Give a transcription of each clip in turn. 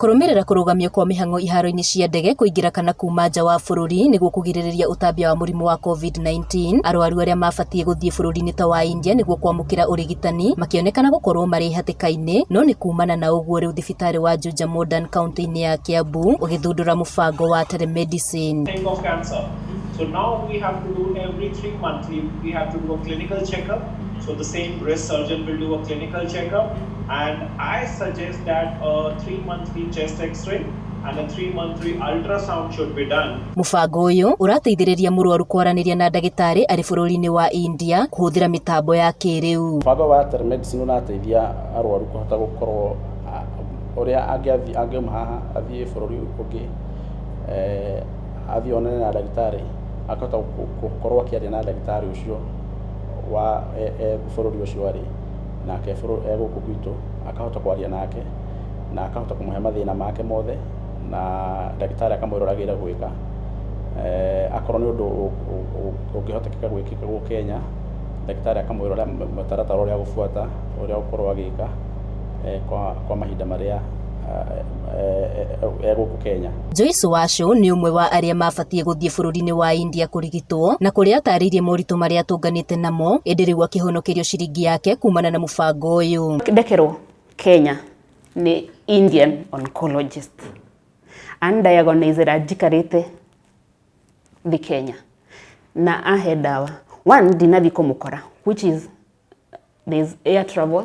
Kũrũmĩrĩra kũrũgamio kwa mĩhang'o iharo-inĩ cia ndege kũingĩra kana kuuma nja wa bũrũri nĩguo kũgirĩrĩria ũtambia wa mũrimũ wa COVID-19. Arwaru arĩa mabatiĩ gũthiĩ bũrũri-inĩ ta wa India nĩguo kwamũkĩra ũrigitani makĩonekana gũkorwo marĩ hatĩka-inĩ no nĩ kuumana na ũguo rĩu thibitarĩ wa Juja Modern kauntĩ-inĩ ya Kiambu ũgĩthundũra mũbango wa telemedicine. think of cancer. So now we have to do every three months, we, we have to do a clinical checkup. So the same breast surgeon will do a clinical checkup. And I suggest Mũbango ũyũ ũrateithĩrĩria mũrwaru kwaranĩria na ndagĩtarĩ arĩ bũrũri-inĩ wa India kũhũthĩra mĩtambo ya kĩrĩu. Mũbango wa telemedicine ũrateithia arwaru kũhota gũkorwo ũrĩa angiuma haha athiĩ bũrũri ũngĩ athiĩ onane na ndagĩtarĩ akahota gũkorwo akĩaria na ndagĩtarĩ ũcio e bũrũri ũcio arĩ. nake Bũrũ e gũkũ gwitũ, akahota kwaria nake, na akahota kũmũhe mathĩna make mothe, na ndagĩtarĩ akamwĩra ũrĩa agĩrĩire gwĩka. Akorwo nĩ ũndũ ũngĩhotekeka gwĩkĩka gũkũ Kenya, ndagĩtarĩ akamwĩra ũrĩa mũtaratara ũrĩa agũbuata, ũrĩa agũkorwo agĩka kwa mahinda marĩa. ya gũkũ Kenya. Joyce Wacu nĩ ũmwe wa arĩa mabatie gũthiĩ bũrũri-inĩ wa India kũrigitwo na kũrĩa atarĩirie moritũ marĩa atũnganĩte namo ĩndĩ rĩu akĩhonokerio ciringi yake kumana na mũbango ũyũ. Ndekerwo Kenya nĩ Indian oncologist andiagonizera njikarĩte thĩ Kenya na ahe ndawa. One ndinathi kũmũkora which is there is air travel.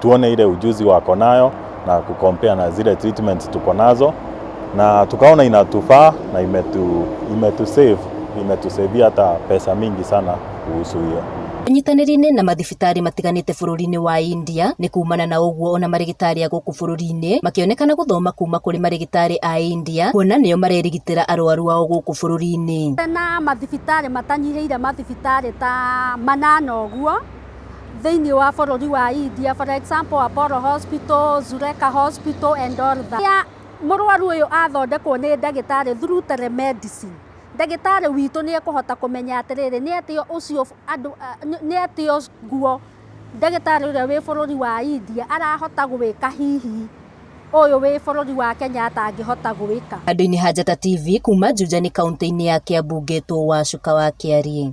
tuone ile ujuzi wako nayo na kukompea na zile treatments tuko nazo, na tukaona inatufaa na imetu, imetu save imetusaidia hata pesa mingi sana kuhusu hiyo. Inyitanĩri-inĩ na mathibitarĩ matiganĩte bũrũri-inĩ wa India nĩ kuumana na ũguo ona marĩgĩtarĩ a gũkũ bũrũri-inĩ makĩonekana gũthoma kuma kũrĩ marĩgĩtarĩ a India kuona nĩo marerigitĩra arwaru ao gũkũ bũrũri-inĩ. na mathibitarĩ matanyihĩire mathibitarĩ ta manana ũguo. thĩinĩ wa bũrũri wa India, for example Apollo Hospital, Zureka Hospital and all that. Rĩrĩa mũrwaru ũyũ athondekwo nĩ ndagĩtarĩ through telemedicine, ndagĩtarĩ witũ nĩ ekũhota kũmenya atĩrĩrĩ, nĩ atĩa ũcio andũ, nĩ atĩa ũguo ndagĩtarĩ ũrĩa wĩ bũrũri wa India arahota gwĩka hihi ũyũ wĩ bũrũri wa Kenya atangĩhota gwĩka. Handũ-inĩ ha Njata TV kuma Njunjani kaũntĩ-inĩ ya Kiambu ngetwo Wacuka wa Kĩari.